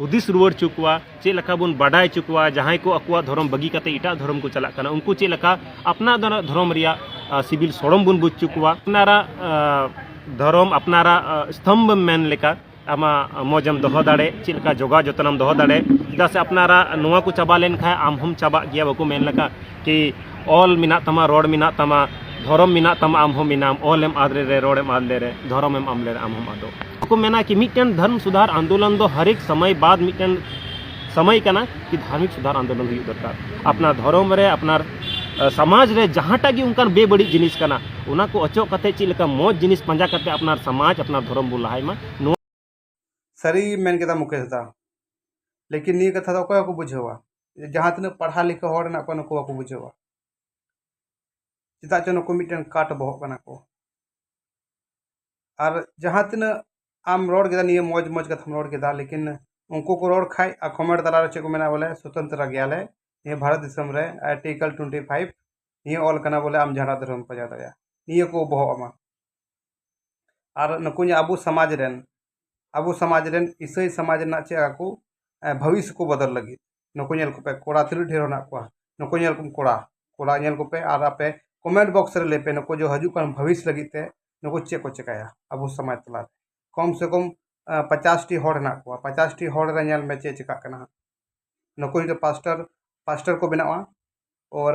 ᱦᱩᱫᱤᱥ ᱨᱩᱣᱟᱹᱲ ᱪᱚ ᱠᱚᱣᱟ ᱪᱮᱫ ᱞᱮᱠᱟ ᱵᱚᱱ ᱵᱟᱰᱟᱭ ᱪᱚ ᱠᱚᱣᱟ ᱡᱟᱦᱟᱸᱭ ᱠᱚ ᱟᱠᱚᱣᱟᱜ ᱫᱷᱚᱨᱚᱢ ᱵᱟᱹᱜᱤ ᱠᱟᱛᱮ ᱮᱴᱟᱜ ᱫᱷᱚᱨᱚᱢ ᱠᱚ ᱪᱟᱞᱟᱜ ᱠᱟᱱᱟ ᱩᱱᱠᱩ ᱪᱮᱫ ᱞᱮᱠᱟ ᱟᱯᱱᱟᱨ ᱫᱷᱚᱨᱚᱢ ᱨᱮᱭᱟᱜ ᱥᱤᱵᱤᱞ ᱥᱚᱲᱚᱢ ᱵᱚᱱ ᱵᱩᱡᱽ ᱪᱚ ᱠᱚᱣᱟ ᱟᱯᱱᱟᱨᱟᱜ ᱫᱷᱚᱨᱚᱢ ᱟᱯᱱᱟᱨᱟᱜ ᱥᱛᱚᱢᱵᱷ ᱢᱮᱱ ᱞᱮᱠᱟ ᱟᱢᱟᱜ ᱢᱚᱡᱮᱢ ᱫᱚᱦᱚ ᱫᱟᱲᱮ ᱪᱮᱫ ᱞᱮᱠᱟ ᱡᱚᱜᱟᱣ ᱡᱚᱛᱚᱱᱮᱢ ᱫᱚᱦᱚ ᱫᱟᱲᱮ ᱪᱮᱫᱟᱜ ᱥᱮ ᱟᱯᱱᱟᱨᱟᱜ ᱱᱚᱣᱟ ᱠᱚ ᱪᱟᱵᱟ ᱞᱮᱱᱠᱷᱟᱱ ᱟᱢ ᱦᱚᱸᱢ ᱪᱟᱵᱟᱜ ᱜᱮᱭᱟ ᱵᱟᱠᱚ ᱢᱮᱱ ᱞᱮᱠᱟ ᱠᱤ ᱚᱞ ᱢᱮᱱᱟᱜ ᱛᱟᱢᱟ ᱨᱚᱲ ᱢᱮᱱᱟᱜ ᱛᱟᱢᱟ ᱫᱷᱚᱨᱚᱢ ᱢᱮᱱᱟᱜ ᱛᱟᱢᱟ ᱟᱢ ᱦᱚᱸ ᱢᱮᱱᱟᱢ ᱚᱞ ᱮᱢ ᱟᱫ ᱞᱮᱨᱮ ᱨᱚᱲ ᱮᱢ ᱟᱫ ᱞᱮᱨᱮ ᱫᱷᱚᱨᱚᱢ ᱮᱢ ᱟᱫ ᱞᱮᱨᱮ ᱟᱢ ᱦᱚᱸᱢ ᱟᱫᱚᱜ ᱠᱚ ᱢᱮᱱᱟ ᱠᱤ ᱢᱤᱫᱴᱮᱱ ᱫᱷᱚᱨᱚᱢ ᱥᱩᱫᱷᱟᱨ ᱟᱱᱫᱳᱞᱚᱱ ᱫᱚ ᱦᱟᱨᱮᱠ ᱥᱚᱢᱚᱭ ᱵᱟᱫ ᱢᱤᱫᱴᱮᱱ ᱥᱚᱢᱚᱭ ᱠᱟᱱᱟ ᱠᱤ ᱫᱷᱟᱨᱢᱤᱠ ᱥᱩᱫᱷᱟᱨ ᱟᱱᱫᱳᱞᱚᱱ ᱦᱩᱭᱩᱜ ᱫᱚᱨᱠᱟᱨ ᱟᱯᱱᱟᱨ ᱫᱷᱚᱨᱚᱢ ᱨᱮ ᱟᱯᱱᱟᱨ ᱥᱚᱢᱟᱡᱽ ᱨᱮ ᱡᱟᱦᱟᱸᱴᱟᱜ ᱜᱮ ᱚᱱᱠᱟᱱ ᱵᱮᱵᱟᱹᱲᱤᱡ ᱡᱤᱱᱤᱥ ᱠᱟᱱᱟ ᱚᱱᱟ ᱠᱚ ᱚᱪᱚᱜ ᱠᱟᱛᱮ ᱪᱮᱫ ᱞᱮᱠᱟ ᱢᱚᱡᱽ ᱡᱤᱱᱤᱥ ᱯᱟᱸᱡᱟ ᱠᱟᱛᱮ ᱟᱯᱱᱟᱨ ᱥᱚᱢᱟᱡᱽ ᱟᱯᱱᱟᱨ ᱫᱷᱚᱨᱚᱢ ᱵᱚᱱ ᱞᱟᱦᱟᱭ ᱢᱟ ᱱᱚᱣᱟ ᱥᱟᱹᱨᱤ ᱢᱮᱱ ᱠᱮᱫᱟ ᱢᱩᱠᱮᱥ ᱫᱟ ᱞᱮᱠᱤᱱ ᱱᱤᱭᱟᱹ ᱠᱟᱛᱷᱟ ᱫᱚ ᱚᱠᱚᱭ ᱦᱚᱸᱠᱚ ᱵᱩᱡᱷᱟᱹᱣᱟ ᱡᱟᱦᱟᱸ ᱛᱤᱱᱟᱹᱜ ᱯᱟᱲᱦᱟᱣ ᱞᱮᱠᱷᱟ ᱦᱚᱲ ᱢᱮᱱᱟᱜ ᱠᱚᱣᱟ ᱱᱩᱠᱩ ᱵᱟᱠᱚ ᱵᱩᱡᱷᱟᱹᱣᱟ ᱪᱮᱫᱟᱜ ᱪᱚ ᱱᱩᱠᱩ ᱢᱤᱫᱴᱮᱱ ᱠᱟᱴ ᱵᱚᱦᱚᱜ ᱠᱟᱱᱟ ᱠᱚ ᱟᱨ ᱡᱟᱦᱟᱸ ᱛᱤᱱᱟᱹᱜ ᱟᱢ ᱨᱚᱲ ᱠᱮᱫᱟ ᱱᱤᱭᱟᱹ ᱢᱚᱡᱽ ᱢᱚᱡᱽ ᱠᱟᱛᱷᱟᱢ ᱨᱚᱲ ᱠᱮᱫᱟ ᱞᱮᱠᱤᱱ ᱩᱱᱠᱩ ᱠᱚ ᱨᱚᱲ ᱠᱷᱟᱡ ᱟᱨ ᱠᱚᱢᱮᱱᱴ ᱛᱟᱞᱟ ᱨᱮ ᱪᱮᱫ ᱠᱚ ᱢᱮᱱᱟ ᱵᱚᱞᱮ ᱥᱚᱛᱚᱱᱛᱨᱟ ᱜᱮᱭᱟᱞᱮ ᱱᱤᱭᱟᱹ ᱵᱷᱟᱨᱚᱛ ᱫᱤᱥᱚᱢ ᱨᱮ ᱟᱨᱴᱤᱠᱮᱞ ᱴᱩᱭᱮᱱᱴᱤ ᱯᱷᱟᱭᱤᱵᱷ ᱱᱤᱭᱟᱹ ᱚᱞ ᱠᱟᱱᱟ ᱵᱚᱞᱮ ᱟᱢ ᱡᱟᱦᱟᱸᱴᱟᱜ ᱫᱷᱚᱨᱚᱢ ᱯᱟᱸᱡᱟ ᱫᱟᱲᱮᱭᱟᱜᱼᱟ ᱱᱤᱭᱟᱹ ᱠᱚ ᱵᱚᱦᱚᱜ ᱟᱢᱟ ᱟᱨ ᱱᱩᱠᱩ ᱡᱟᱦᱟᱸ ᱟᱵᱚ ᱥᱚᱢᱟᱡᱽ ᱨᱮᱱ ᱟᱵᱚ ᱥᱚᱢᱟᱡᱽ ᱨᱮᱱ ᱤᱥᱟᱹᱭ ᱥᱚᱢᱟᱡᱽ ᱨᱮᱱᱟᱜ ᱪᱮᱫ ᱟᱠᱚ ᱵᱷᱟᱹᱵᱤᱥ ᱠᱚ ᱵᱚᱫᱚᱞ ᱞᱟᱹᱜᱤᱫ ᱱᱩᱠᱩ ᱧᱮᱞ ᱠᱚᱯᱮ ᱠᱚᱲᱟ ᱛᱤᱱᱟᱹᱜ ᱰᱷᱮᱨ ᱢᱮᱱᱟᱜ ᱠᱚᱣᱟ ᱱᱩᱠᱩ ᱧᱮᱞ ᱠᱚᱢ ᱠᱚᱲᱟ ᱠᱚᱲᱟ ᱧᱮᱞ ᱠᱚᱯᱮ ᱟᱨ ᱟᱯᱮ ᱠᱚᱢᱮᱱᱴ ᱵᱚᱠᱥ ᱨᱮ ᱞᱟᱹᱭ ᱯᱮ ᱱᱩᱠᱩ ᱡᱮ ᱦᱤᱡᱩᱜ ᱠᱟᱱ ᱵᱷᱟᱹᱵᱤᱥ ᱞᱟᱹᱜᱤᱫ ᱛᱮ ᱱᱩᱠᱩ ᱪᱮᱫ ᱠᱚ ᱪᱤᱠᱟᱹᱭᱟ ᱟᱵᱚ ᱥᱚᱢᱟᱡᱽ ᱛᱟᱞᱟ ᱨᱮ ᱠᱚᱢ ᱥᱮ ᱠᱚᱢ ᱯᱚᱪᱟᱥᱴᱤ ᱦᱚᱲ ᱢᱮᱱᱟᱜ ᱠᱚᱣᱟ ᱯᱚᱪᱟᱥᱴᱤ ᱦᱚᱲ ᱨᱮ ᱧᱮᱞ ᱢᱮ ᱪᱮᱫ ᱪᱤᱠᱟᱹᱜ ᱠᱟᱱᱟ ᱱᱩᱠᱩ ᱡᱩᱫᱤ ᱯᱟᱥᱴᱚᱨ ᱯᱟᱥᱴᱚᱨ ᱠᱚ ᱵᱮᱱᱟᱜᱼᱟ ᱚᱨ